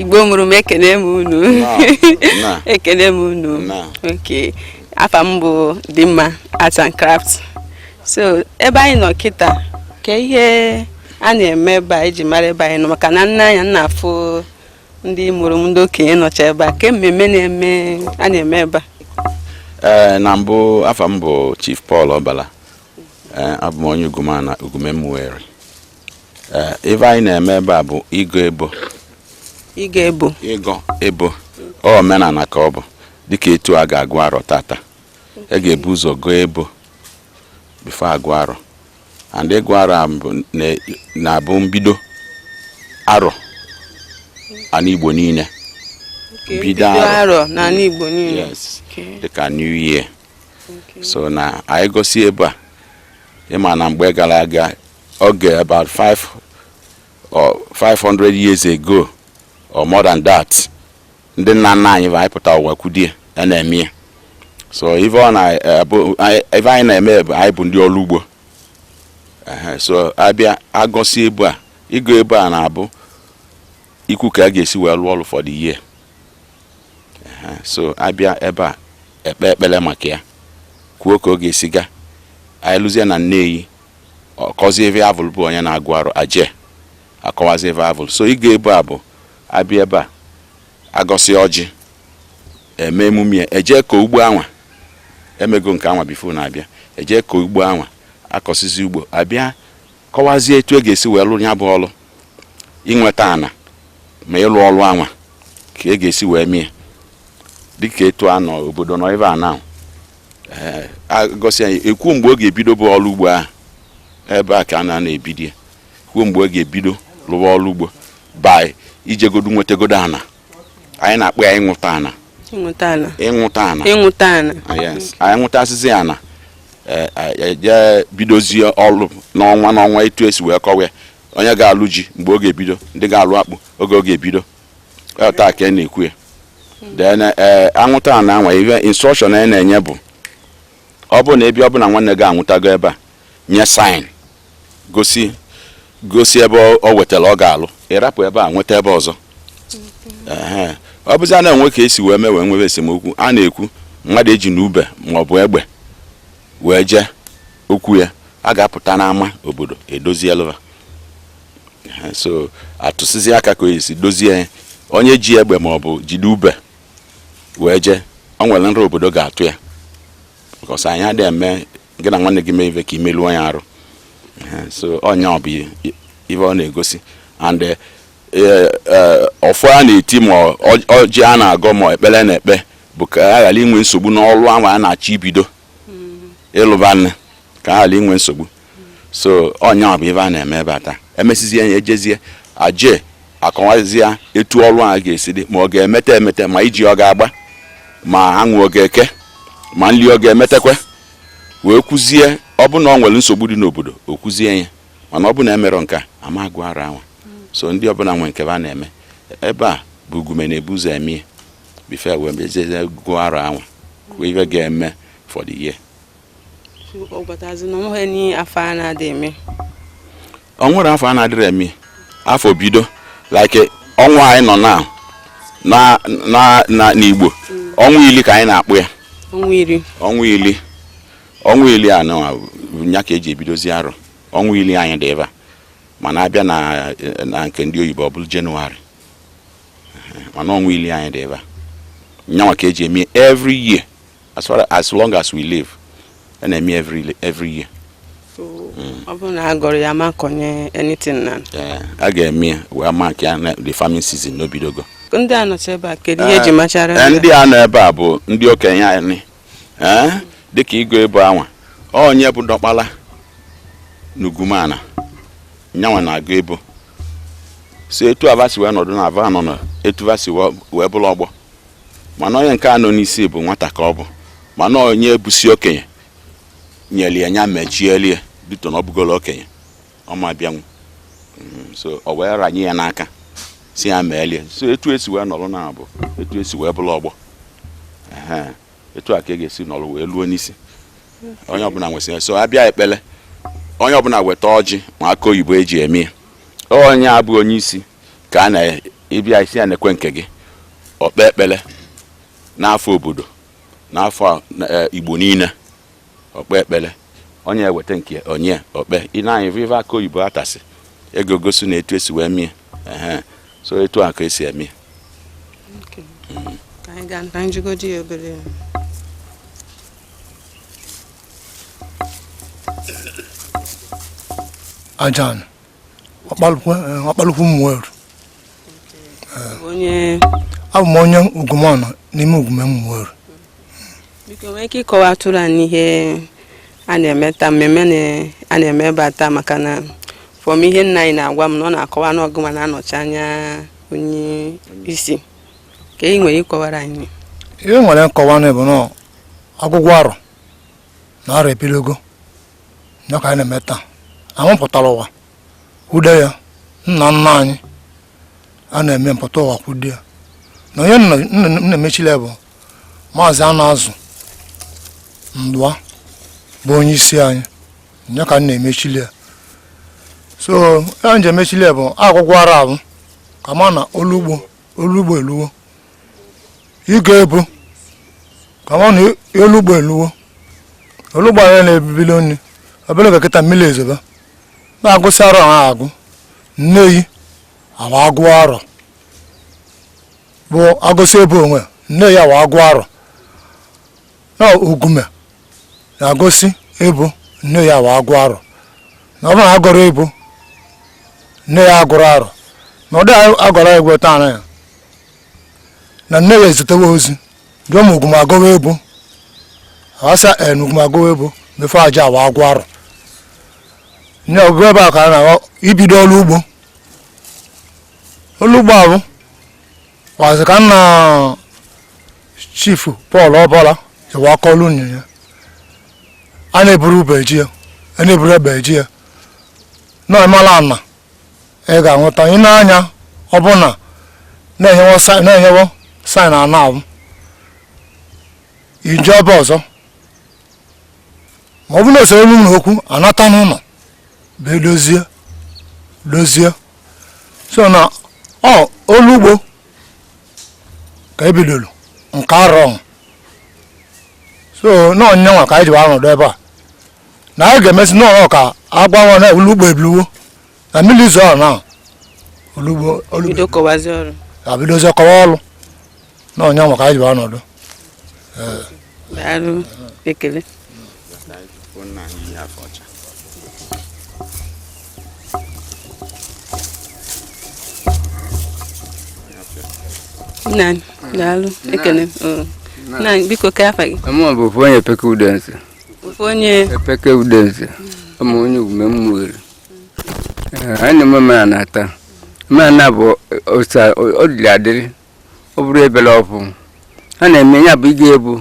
igbo mụrụ m ekene m unu ekene m unu okay afa m bụ Dimma Arts and Crafts so ebe anyị nọ kịta ke ihe a na-eme ebe a iji mara ebe anyị nọ maka na nne anya m na-afụ ndị mụrụ m ndị okenye nọcha ebe a ke mmemme na-eme a na-eme ebe a ee na mbụ afa m bụ Chief Paul Obala abụ m onye Ugumeana Ugume Umueri Ee, ife anyị na-eme ebe a bụ ịgọ ebo ịgọ ebo ịgọ ebo ọ omenala ka ọ bụ dịka etu a ga-agụ arọ tata e ga-ebu ụzọ gọọ ebo before agụọ arọ and ịgụ arọ a bụ- na- na-abụ mbido arọ ana igbo niile Bido arọ n'ala igbo niile yes Okay. dịka new year Okay. so na anyị gọsị ebo a ịma na mgbe gara aga oge about 5 or 500 years ago or more than that ndị nna nna anyị va anyị pụta ụwa kwudie ya na-eme ya so ife ọ na eh, bụ- anyị- ife anyị na-eme bụ anyị bụ ndị ọlụ ugbo Ehe, so abịa agọsị ebo a ịgọ ebo a na-abụ ikwu ka a ga-esi wee lụọ ọlụ for the year Ehe, so abịa ebe a ekpe ekpele maka ya kwuo ka ọ ga-esi ga anyị luzie na Nneyi ọkọzi ebe avụl bụ onye na-agụ arọ aje akọwazi ebe avụl so ịgọ ebo a bụ abịa ebe a agọsị ọjị eme emume eje ka ugbo anwa emego nke anwa before na-abịa eje ka ugbo anwa akọsizi ugbo abịa kọwazie etu e ga-esi wee lụ nya bụ ọlụ inweta ana ma ịlụ ọlụ anwa ka e ga-esi wee mie dịka etu a nọ obodo nọ ebe a na eh, agọsịa nya ekwuo mgbe ọ ga-ebido bụ ọlụ ugbo ahụ ebe a ka a na-ebido ya kwuo mgbe ọ ga-ebido lụwa ọlụ ugbo by ijegodu nwetagodu ana anyị na-akpọ ya ịnwụta ana ịnwụta ana ịnwụta ana ịnwụta ana ah, anyị nwụtasịzi ana eh, ejee bidozie ọlụ n'ọnwa n'ọnwa etu esi wee kọwa ya onye ga-alụ ji mgbe ọ ga-ebido ndị ga-alụ akpụ oge ọ ga-ebido Ọ taa ka a na-ekwu ya then ee anwụta ana anwa ihe instruction anyị na-enye bụ ọ bụ na ebe ọ bụna nwanne gị anwụtago ebe a nye sign gosi gosi ebe ọ- ọ wetara ọ ga-alụ ị rapụ ebe a nweta ebe ọzọ Ehe. ọ bụzina enwe ka esi wee mee wee nwebe esemokwu a na-ekwu mmadụ ejina ube maọbụ egbe wee jee okwu ya a ga-apụta n'ama obodo edozielụ va so atụsịzi aka ka esi dozie ya onye ji egbe ma ọ bụ jide ube wee jee ọ nwere nra obodo ga-atụ ya because anyị adịghị eme gị na nwanne gị mee ive ka imeluo ya arụ so ọ nya bụ ive ọ na-egosi and eh, eh, eh, ọfọ a na-eti ma ọjị a na-agọ ma ekpele a na-ekpe bụ ka a ghara inwe nsogbu n'ọlụ anwa a na-achọ ibido ịlụba nne ka a ghara inwe nsogbu so ọ nya bụ ive a na-eme ebe a taa emesizie ya ejezie aje akọwazie etu ọlụ a ga-esi dị ma ọ ga-emete emete ma iji ọ ga-agba ma anwụ ọ ga-eke ma nli ọ ga-emetekwe wee kwuzie ọ bụ na ọ nwere nsogbu dị n'obodo o kwuzie ya mana ọ bụ na emerọ nke a a ma agụ arọ anwa so ndị ọbụna nwe nke va na-eme ebe a bụ ugume na-ebu ụzọ emie before wee mezie gụọ arọ anwa kwuo ive ga-eme for the year ọ gwatazi na ọ nweghị n'ihe afọ a na-adị eme o nwerọ afọ a na-adịrọ eme afọ bido like ọnwa anyị nọ na na na na n'igbo ọnwa ili ka anyị na-akpọ ya ọnwa ili ọnwa ili ọnwa ili a nọwa bụ ya ka eji ebidozi arọ ọnwa ili anyị dị ebe a mana abịa na na nke ndị oyibo ọ bụrụ january mana ọnwa ili anyị dị ebe a nyanwa ka eji eme every year as far as long as we live a na-eme every every year mm. ọ bụrụ na a gọrọ ya ma kọnye anything na eh, a ga-eme ya wee mark ya the farming season na o bidogo ndị a nọcha ebe a kedu ihe eji eh, machara eh, ndị a nọ ebe a bụ ndị okenye anyị dịka ịgọ ebo anwa onye bụ diọkpala n'ugume a nyanwa na-agọ ebo so etu a va si wee nọdụ na a va nọ na etu va si wee bụrụ ọgbọ mana onye nke a nọ n'isi bụ nwata ka ọ bụ mana onye bụsi okenye nyere ya nya mechielie due to na ọ bụgolo okenye ọ ma bịanwu mm, so ọ wee ranye ya n'aka sị ya meelie so etu esi wee nọrọ na a bụ etu esi wee bụrụ ọgbọ etu a ka a ga-esi nọrọ wee luo n'isi onye ọbụla nwesịrị so a bịa ekpele onye ọbụla weta ọjị na akụ oyibo eji eme ya onye a bụ onye isi ka a na-abịa sị ya nekwe nke gị o kpe ekpele n'afọ obodo n'afọ e, igbo niile o kpe ekpele onye weta nke onye o kpe ị na-anyị viva akụ oyibo atasị ego gosi na etu esi wee mie so etu a ka esi eme ka anyị gaa na njigodi ya obere ajan ọkpalaukwu Umueri abụ m onye Ugumana n'ime Ugume Umueri biko nwee ike ịkọwatụrụ anyị ihe a na-eme taa mmemme a na-eme ebe a taa maka na from ihe nna anyị na-agwa m na ọ na-akọwa na ọ gị nwa na-anọchi anya onye isi ka ị were kọwara anyị ihe nwere nkọwa na bụ na ọgụgụ arọ na arọ ebiligo ya ka anyị na-eme taa anyị pụtara ụwa kwude ya nna nna anyị ha na-eme m pụta ụwa kwude ya na onye na-emechile bụ maazị anụ azụ ndụa bụ onye isi anyị ya ka m na-emechili ya so ya m ji emechili ya bụ ọgụgụ arọ abụ ka a ma na ọlụ ugbo ọlụ ugbo eluwo ị ga-ebu ka a ma na ọlụ ugbo eluwo ọlụ ugbo anyị na-ebibili nri obere oge kịta mmiri ezoba na-agụsị arọ ha agụ Nneyi awa agụ arọ bụ agụsị ebo wee Nneyi awa agụ arọ na Ugume na-agụsị ebo Nneyi awa agụ arọ na ọ bụrụ na agụrọ ebo Nneyi agụrọ arọ na ọ dịghị agụrọ ebo taa na ya na Nneyi ezitewo ozi jụọ ma Ugume agụwo ebo a sị en Ugume agụwo ebo mefe aja wa agụ arọ nne ọbụ ebe a ka a na-aghọ ibido ọrụ ugbo ọrụ ugbo ahụ kwazị ka nna Chief Paul Ọbọla ewe akọlụ nye ya a na-eburu ube ji ya a na-eburu ebe ji ya na emala ana ị ga-anweta ị na-anya ọ bụ na na-enyewo sign ana ahụ ije ebe ọzọ ma ọ bụ na osoro elu na okwu anata n'ụlọ bụ edozie dozie so na ọ ọlụ ugbo ka ebidoro nke arọ so na ọ ya nwa ka anyị ji were nọdụ ebe a na anyị ga-emesi n'ọrụ ka a gwa ọra na ọlụ ugbo ebiliwo na mmiri zoo na ọlụ ugbo ọlụ bido kọwazi ọrụ abidozi kọwa ọrụ na ọ ya nwa ka anyị ji wee nọdụ daalụ ekele nna anyị daalụ ekele oo. nna anyị biko ka afa gị Mụ bụ ofu onye Epeke Udeze ofu onye Epeke Udeze a m onye Ugume Umueri anyị na-eme omenala taa omenala bụ osa ọ dịrị adịrị ọ bụrụ ebele ọbụ ha na-eme ya bụ ị ga-ebu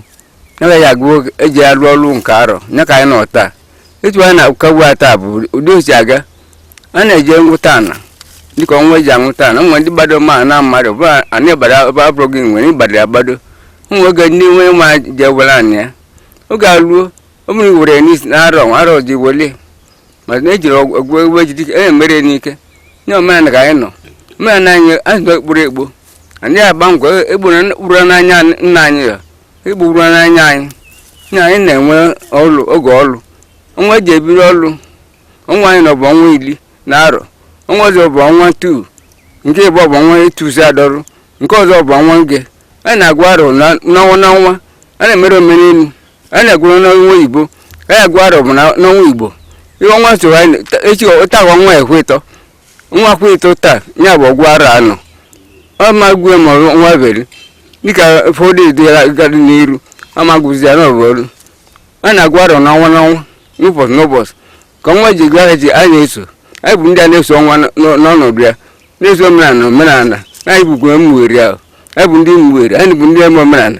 naga ya agụ eji arụ ọrụ nke arọ ya ka anyị nọ taa etu anyị na-akagbu ata bụ ụdị o si aga a na-eji nwụta ana dịka ọnwa eji anwụta ana nwe ndị gbado ma na mmadụ bụ ana ịbara ebe abụrụ gị nwere ịgbado ya gbado ụmụ oge ndị nwe ma je were ana ya oge aruo ọ bụrụ iwere n'isi na arọ arọ ji wele maka na ejiri ọgwụ egwu ejide ike e mere n'ike nye omenala ka anyị nọ omenala anyị anyị nọ ekpuru ekpo anyị agba ngwa egburu ekpuru n'anya nna anyị ya egburu n'anya anyị na anyị na-enwe ọlụ oge ọlụ ọnwa eji ebiri ọlụ ọnwa anyị nọ bụ ọnwa iri na arọ ọnwa ọzọ bụ ọnwa tu nke ịbụ bụ ọnwa etuzi adọrụ nke ọzọ bụ ọnwa nge anyị na-agụ arọ na- n'ọnwa n'ọnwa a na-emere omenelu a na-agụrụ n'ọnwa oyibo a na-agụ arọ bụ na- n'ọnwa igbo ihe ọnwa so ha na- ta- echi ụta bụ ọnwa ekwe ịtọ ọnwa kwe ịtọ taa ya bụ ọgụgụ arọ anọ ọ ma gwe ma ọnwa beri dịka ụfọdụ edela gadị n'iru ọ ma gụzi ya n'ọ bụrụ a na-agụ arọ n'ọnwa n'ọnwa n'ụbọchị n'ụbọchị ka ọnwa ji gwa ha ji a na-eso anyị bụ ndị a na-eso ọnwa n- n- n'ọnọdụ ya na-eso omenala omenala anyị bụ Ugume Umueri ahụ anyị bụ ndị Umueri anyị bụ ndị eme omenala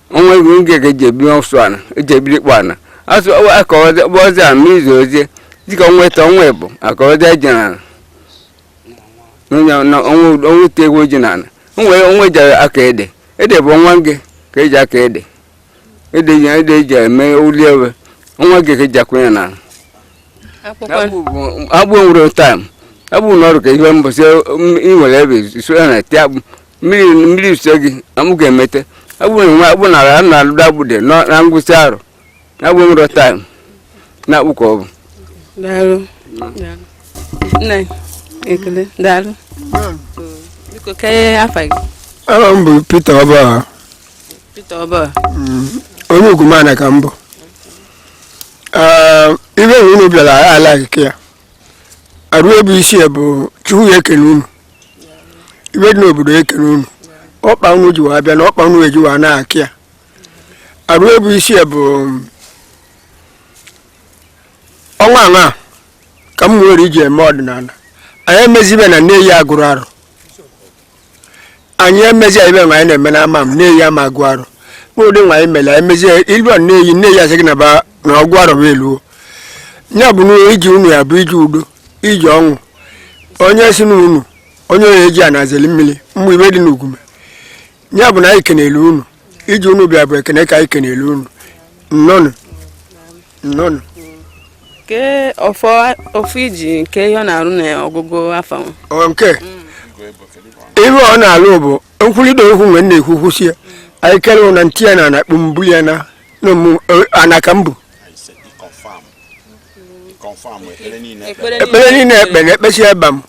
ọnwa nge ka eji ebi ọsụ ana eji ebiri kpọ ana asụ akọwazi bụ ọzọ a mmiri zozie dịka ọnwa ịtọ ọnwa ịbụọ akọwazi ji na ana onye na ọnwa ọnwa ite egwu ji na ana ọnwa ọnwa eji akọ ede ede bụ ọnwa nge ka eji akọ ede ede ji ede eji eme ụli ewe ọnwa nge ka eji akwụnye na ana akwụkwọ akpụ bụ- akpụ enwerọ taịm akpụ n'ọrụ ka ihe mbọsị ị nwere ebe so ya na tie akpụ mmiri mmiri uche gị na m ga-emete akpụ na nwa akpụ nara na alụdo akpụ de nọ na ngwụsị arọ na akpụ enwerọ taịm na akpụ ka ọ bụ daalụ nna anyị ekele daalụ biko kee afa gị aha m bụ Peter Ọba Peter Ọba onye Ugume ka m bụ Ee, ive na unu bịara anyị alaghị ka ya arụ ebe isi ya bụ chukwu ya ekene unu ive dị n'obodo ya ekene unu ọkpa unu ji wee bịa na ọkpa unu eji wee na-akị ya arụ ebe isi ya bụ ọnwa anwa ka m nwere iji eme ọdịnala anyị emezi ive nna anyị agụrụ arọ anyị emezi anyị mere anyị na-eme n'ama m nna anyị ama agụ arọ mkpụrụ ụdị nwa anyị mere anyị mezie ilu nna anyị nna anyị asị gị na ba na ọgụ arọ bụ eluo ya bụ na iji unu ya bụ iji udo iji ọṅụ onye si na unu onye oyi eji a na-ezeli mmiri mmụ ive dị n'Ugume ya bụ na anyị kenele unu iji unu bịa bụ ekene ka anyị kenele unu nnọnụ nnọnụ ke ofu iji nke ihe ọ na-arụ na ọgụgụ afọ nke ihe ọ na-alụ bụ nkwurịta okwu mgbe na-ekwu kwụsị ya anyị gere na ntị ya na anakpụ mbụ ya na anaka mbụ ekpere niile ekpe na ekpesi ebe m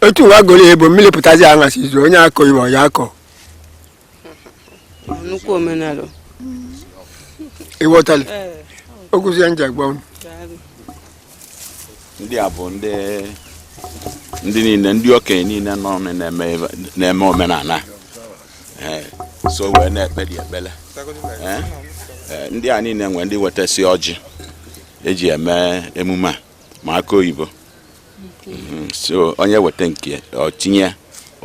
etu wa gọrọ ebo mmiri pụtazi ya aṅasị izu onye akọ ibe ọ ya-akọ nnukwu omenala ị ghọtala okwuzi ya nje agwa unu ndị a bụ ndị ndị niile ndị okenye niile nọ ọnụ na-eme ebe- na-eme omenala Eh, so wee na-ekpeli ekpele Eh, eh, ndị a niile nwere ndị wetasị ọjị eji eme emume a ma akụ oyibo mhm. so onye weta nke ọ chinye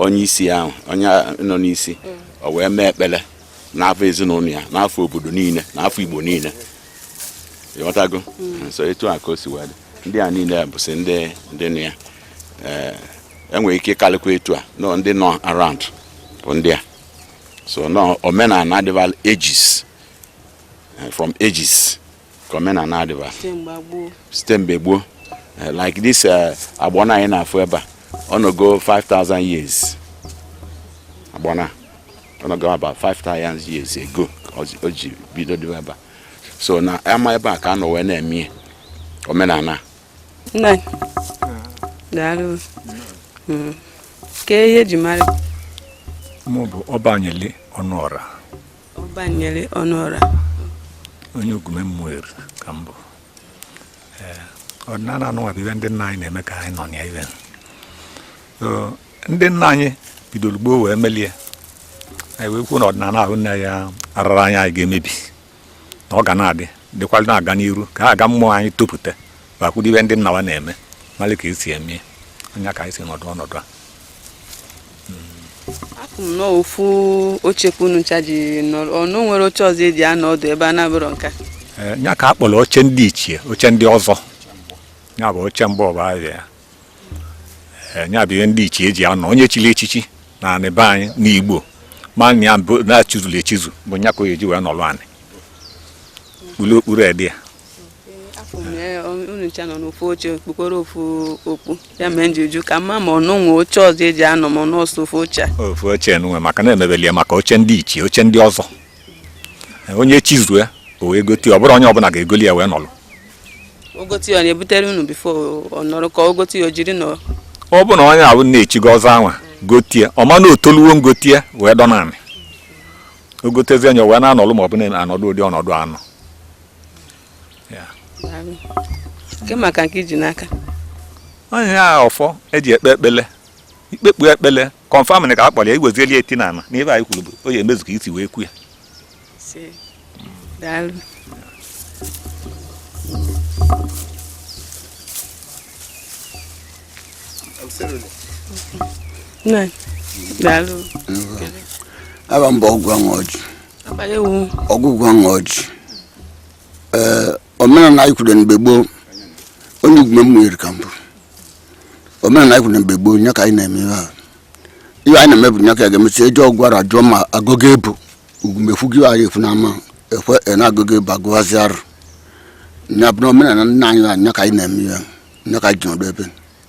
onye isi ahụ onye nọ n'isi ọ wee mee ekpere n'afa ezinụlọ ya n'afa obodo niile n'afa igbo niile ị ghọtago mm. so etu a ka o si wee dị ndị a niile bụsị ndị ndị nọ ya enwere eh, e ike ịkarịkwa etu a nọ ndị nọ around bụ ndị a so na omenala adịbalụ ages eh, from ages ka omenala adịba site mgbe gboo eh, like this eh, agbọna anyị na-afụ ebe a ọ nọgo 5000 years agbọna ọ nọgo about 5000 years ago o ji bido dịba ebe a so na ama ebe a ka a nọ wee na-eme omenala daalụ hmm. ka ihe eji mara mụ bụ ọbanyele ọnụọra banyele ọnụọra onye ugume umueri ka m bụ ọdịnala anụnwa bụ ibe ndị nna anyị na-eme ka anyị nọ na ibe so ndị nna anyị bidoro gboo wee melie anyị wee kwuo na ọdịnala ahụ nne ya arara anyị anyị ga-emebi na ọ ga na-adị dịkwalụ na-aga n'iru ka a ga ụmụ anyị topụta ba kwudo ibe ndị nna wa na-eme mara ka esi eme nya ka anyị si nọdụ ọnọdụ a apụ m n'ofu oche ka unu ncha ji nọrọ ọnụ nwere oche ọzọ eji anọ ọdụ ebe a na-abụrọ nke a Ee, ya ka a kpọrọ oche ndị ichie oche ndị ọzọ ya bụ oche mgbọ bụ afa ya Ee, ya bụ ihe ndị ichie eji anọ onye chiri echichi na anị be anyị n'igbo ma na ya bụ na e chizuru echizu bụ nya ka o ji wee nọrọ anị kpuru okpu red ya unu ncha nọ n'ofu oche kpukporo ofu okpu ya mee m ji ajụ ka m ma ma unu nwe oche ọzọ e ji anọ ma n'ọ sọ ofu oche a ofu oche nwe maka na emebeli ya maka oche ndị ichie oche ndị ọzọ onye chizuru ya o wee gote ya ọ bụrọ onye ọbụla ga-egoli ya wee nọlụ o gote ya ọ na-ebutere unu before ọ nọrọ ka o gote ya o jiri nọrọ ọ bụ na onye ọbụna chigo ọzọ a nwa gote ya ọ ma na o toluwo ngote ya wee dọ naanị o gotezie nya o wee na-anọlụ ma ọ bụ na-anọdụ ụdị ọnọdụ a nọ kee maka nke i ji n'aka onye a ọfọ e ji ekpe ekpele i kpekpọ ekpele confirm na ka a kpọrọ ya i wezieli etie n'ana n'ive anyị kwuru bụ ọ ya-emezu ka i si wee kwu ya daalụ Nna, daalụ. Ava m bụ ọgwụ ọjị. Ogugua ọṅụ ọjị ee omenala anyị kwuru mgbe gboo onye Ugume Umueri ka m bụ omenala anyị kwuru mgbe gboo nya ka anyị na-eme ihe a ihe anyị na-eme bụ nya ka a ga-emesi eje ọgụ arọ ajụọ ma agụgụ ebu Ugume kwu gị anyị efu n'ama ekwe na agụgụ ebu agụwazi arọ nya bụ na omenala nna anyị ha nya ka anyị na-eme ihe nya ka anyị ji nọdụ ebe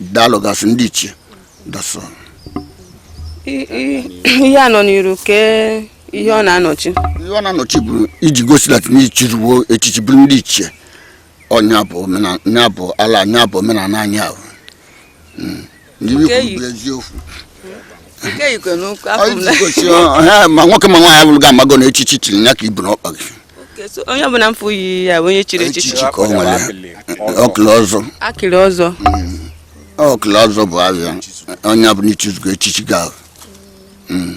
daalụgasị ndị ichie that's ihe a nọ n'iru kee ihe ọ na-anọchi ihe ọ na-anọchi bụ iji gosi that n'i chiriwo echichi bụrụ ndị ichie ọ nya bụ ala nya bụ omenala anyị ahụ hmm. eziokwu ma nwoke ma nwaanyị vụrụ gị amago na echichi chiri ya ka i bu n'ọkpa gị onye ọbụla m fụ yi ya onye chiri echichi ka o nwere ọkịlị ọzọ akịlị ọzọ mm. ọkịlị ọzọ bụ ava ya onye ọbụla i chizugo echichi gị ahụ mm.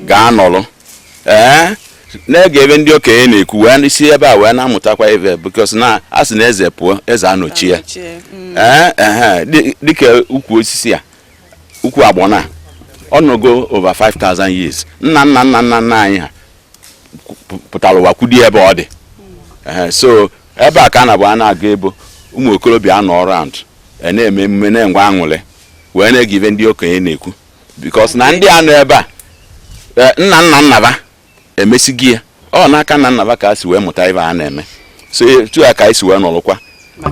gaa nọrọ ee na-ege ive ndị okenye na-ekwu wee si ebe a wee na-amụtakwa ive because na a sị na eze pụọ eze anọchie ee ehe dị- dịka ukwu osisi a ukwu agbọnọ a ọ nọgo over 5000 years nna nna nna nna nna anyị ha pụ- pụtara ụwa kwudo ya ebe ọ dị Ehe, so ebe a ka a na-abụ a na-aga ebo ụmụ okorobịa anọ around na-eme emume na-enwe aṅụrị wee na-ege ive ndị okenye na-ekwu because na ndị a nọ ebe a eh, nna nna nna va emesịgo ya ọ n'aka nna nna va ka a si wee mụta ive a na-eme so etu a ka anyị si wee nọrọkwa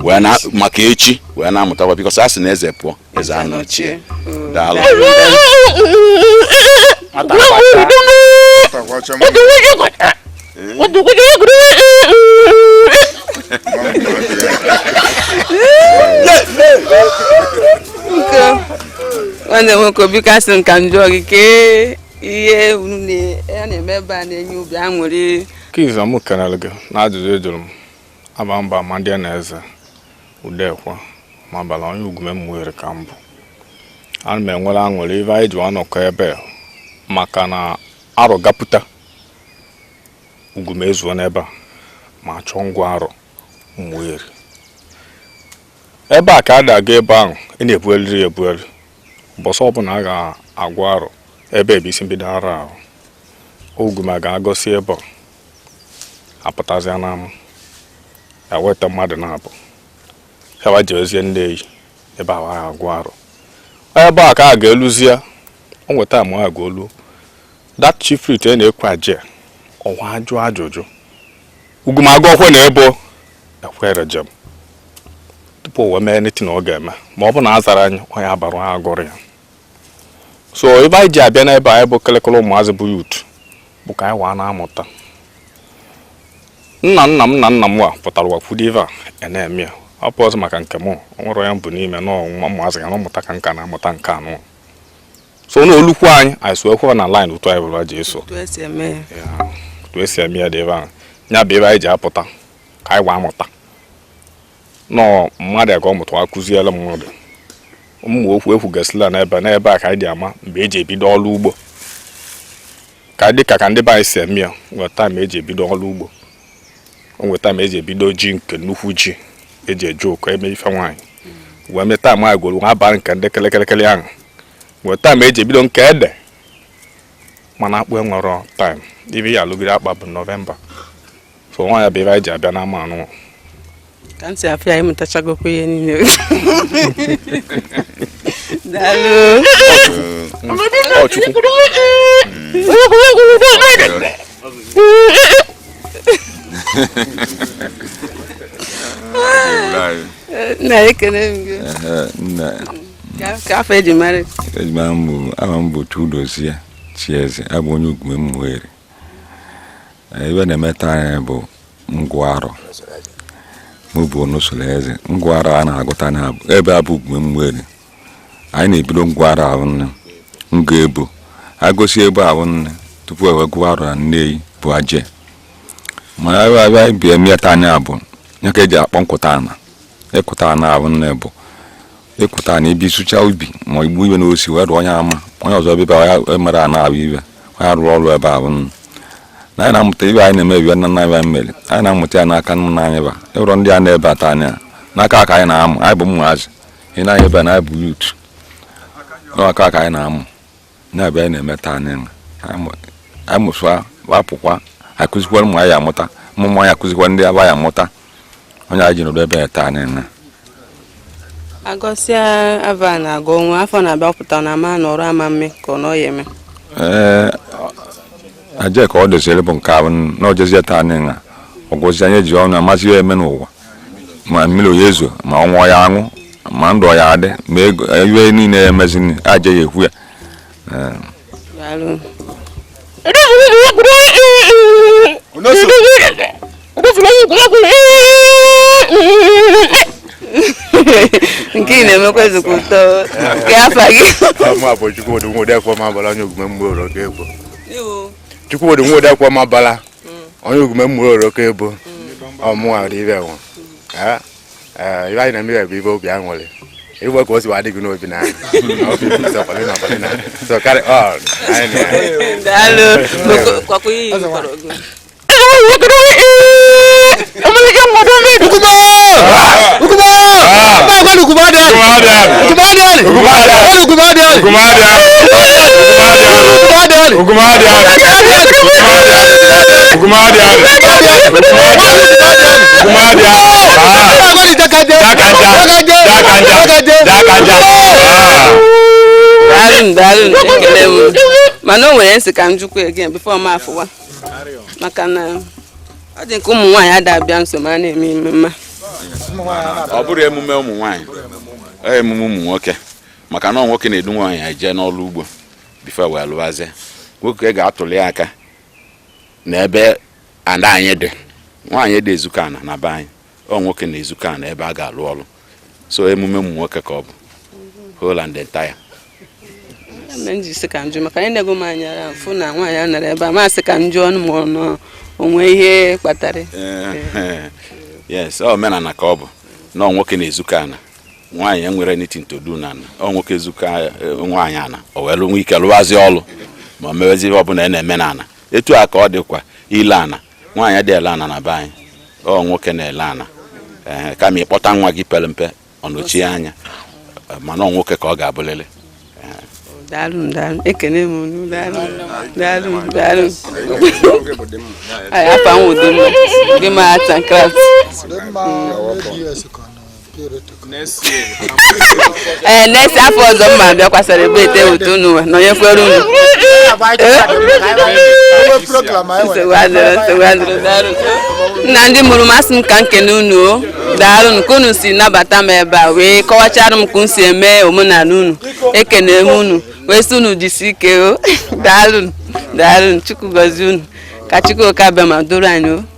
wee na maka echi wee na-amụtakwa because a sị na eze pụọ eze anọchie mm. daalụ nwanne nwoke obi kasị nka njọ gị kee ihe unu na- a na-eme ebe a na-enye obi aṅụrị Kiza m kelere gị n'ajụjụ ị jụrụ m aba mba ma ndị na eze udekwa ma bala onye Ugume Umueri ka m bụ ana m enwere aṅụrị ive anyị ji anọkọ ebe a maka na arọ ga-apụta Ugume ezuo n'ebe a ma chọọ ngụ arọ Umueri ebe a ka a na-aga ebe ahụ ị na-ebueliri ebueli mbọsị ọbụla a ga-agụ arọ ebe ebe isi mbido arọ ahụ Ugume ga-agọsi ebe a apụtazịa n'ama eweta mmadụ naabọ wa jewezie Nneyi ebe ahụ agụ arọ ebe a ka a ga-eluzie o nwe taịm a ga-olu that chief priest e na-ekwu aje ọwa ajụ ajụjụ Ugume agọkwe na ebo ekwere jem tupu o wee mee anything ọ ga-eme ma ọ bụ na a zara anyị onye abarụ ha agụrụ ya so ive anyị ji abịa n'ebe a anyị bụ kelekele ụmụazị bụ youth bụ ka anyị wa na-amụta nna nna m na nna m wa pụtara wakwudo ife a na-eme ya ọ bụ ọzọ maka nke m nwere onye mbụ n'ime na ụmụazị ya na ụmụta ka nka na-amụta nke anụ so na o lukwu anyị anyị esokwe na line otu anyị bụrụ ji eso otu esi eme ya Ya, otu esi eme ya dị ebe ahụ ya bụ ive anyị ji apụta ka anyị wa amụta na mmadụ ya ka ọ mụta akụziela mmadụ ụmụ okwu ekwugasịla n'ebe n'ebe a ka anyị ji ama mgbe eji ebido ọrụ ugbo ka dị ka ka ndị be anyị si eme ya nwe taịm eji ebido ọrụ ugbo o nwe taịm eji ebido ji nke nnukwu ji eji eje ụkọ eme ife nwaanyị wee nwee taịm gworo nwa abalị nke ndị kelekele ahụ nwe taịm eji ebido nke ede mana akpụ enwerọ taịm ibe ya alụgide akpa bụ nọvemba so nwa ya bụ ive anyị ji abịa n'ama anụnwa ka ntị afọ ya ịmụtachagokwa ihe niile nna ekele m gị ka afa eji mara eji mara m bụ aha m bụ Chudozie Chieze abụ onye Ugume Umueri ive a na-eme taanị bụ ngụ arọ mbụ n'usoro eze ngụ arọ a na-agụta na ebe a bụ Umueri anyị na-ebido ngụ arọ ahụ nne nga ebo agọsi ebe ahụ nne tupu ewe gụọ arọ na Nneyi bụ aje mana ebe abịa ive eme taanị abụ ya ka eji akpọ nkụta ana ịkụta ana ahụ nne bụ ịpụta na ibi sụcha ubi ma igbu ive n'osi wee rụọ onye ama onye ọzọ bịba ya emere a na-abụ ive onye rụrụ ọrụ ebe ahụ nụ na anyị na-amụta ive anyị na-eme bụ ive nna nna anyị mere anyị na-amụta ya n'aka nna anyị ba ịrọ ndị a nọ ebe a taanị a n'aka ka anyị na-amụ anyị bụ ụmụazị ị na-ebe na anyị bụ youth n'aka ka anyị na-amụ na ive anyị na-eme taa anyị mụsịa apụkwa akụzikwara ụmụ anyị amụta ụmụ ụmụ anyị akụzikwa ndị aba ya amụta ọ ya anyị ji nọdụ ebe a taa na agọsịa avọ na-agwụ onwe afọ na-abịa pụta na ama na ọrụ ama mme ka ọ nọ ya eme ee aje ka ọ doziri bụ nke ahụ na ojezie taa na ọgwụzi anyị ji ọnụ amazi ya eme n'ụwa ma mmiri ọ ya ezo ma ọnwa ya anwụ ma ndụ ya adị ma ego ive niile ya emezi aje ya ekwu ya nke ị na-emekwa ezigbo ụtọ nke afa gị Chukwudị Nwode Akwamabala onye Ogume mgbe ụlọ ga-egbo Chukwudị Nwode Akwamabala onye Ogume mmụọ oroko ebo ọ mụwa dị ibe nwụ ive anyị na-eme bụ ive obi aṅụrị ịgwa ka o si adị gị n'obi na so carry on daalụ mana o nwere m sị ka m jụkwa again before m afụwa maka na ọ dị ka ụmụ nwaanyị ada abịa nso ma a na-eme ememe ọ bụrọ emume ụmụ nwaanyị ọ emume ụmụ nwoke maka na ọ nwoke na-edu nwaanyị eje n'ọrụ ugbo before wee lụwazie nwoke ga-atụli aka n'ebe ana anyị dị nwaanyị adị ezukọ ana na be anyị ọ nwoke na-ezukọ ana ebe a ga-alụ ọrụ so emume ụmụ nwoke ka ọ bụ whole and entire m ji sị ka m jụọ maka na enego m anya ara m fụ na nwaanyị anọrọ ebe a m sị ka m jụọ nụ ma o nwe ihe kpatara yes ọ omenala ka ọ bụ na ọ nwoke na-ezukọ ana nwaanyị enwerọ anything to do na ana ọ nwoke ezukọ eh, nwaanyị ana o wee nwe ike lụwazi ọlụ ma mewezie ihe ọbụla a na-eme na ana etu a ka ọ dịkwa ile ana nwaanyị adịghị ele ana na be anyị ọ nwoke na-ele ana ee kama ị kpọta nwa gị pere mpe ọ nọchie anya eh, mana ọ nwoke ka ọ ga-abụlịlị daalụ m daalụ ekene m unu daalụ m daalụ m daalụ m Anyị afa m Udemma Udemma Arts and Crafts Udemma ADS ka ọ nọ. ee eh, next afọ ọzọ m ma-abịakwa celebrate with unu nọnyekwere unu nna ndị mụrụ m asị m ka m kene unu o daalụ ka unu si nabata m ebe a wee kọwachara m ka unu si eme omenala unu ekene m unu wee sị unu jisi ike o daalụ daalụ chukwu gọzie unu ka chukwu oke abịama doro anyị o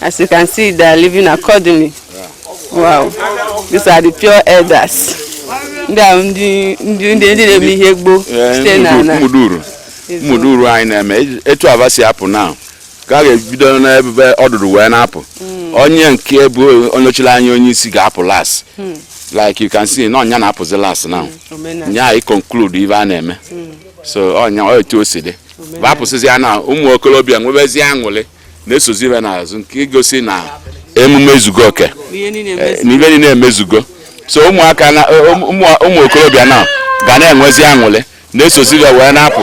As you can see, they are leaving accordingly. Wow. These are the pure elders. Ndị a ndị ndị ndị ndị na-eme ihe gboo site na na mmuduru mmuduru anyị na-eme etu a va si apụ now ka a ga-ebido n'ebe ọdụdụ wee na-apụ onye nke bụ onye chịrị anya onye isi ga-apụ last like you can see na ọ nya na-apụzi last na omenala. nya anyị conclude ive a na-eme so ọ nya ọ etu o si dị va pụsịzia na ụmụ okorobịa nwebezie aṅụrị na-esozi ve n'azụ nke igosi na emume ezugo oke eh, na ive niile emezugo so ụmụaka na eh, um, ụmụ okorobịa na ga na-enwezi aṅụrị na-esozi ve wee na-apụ.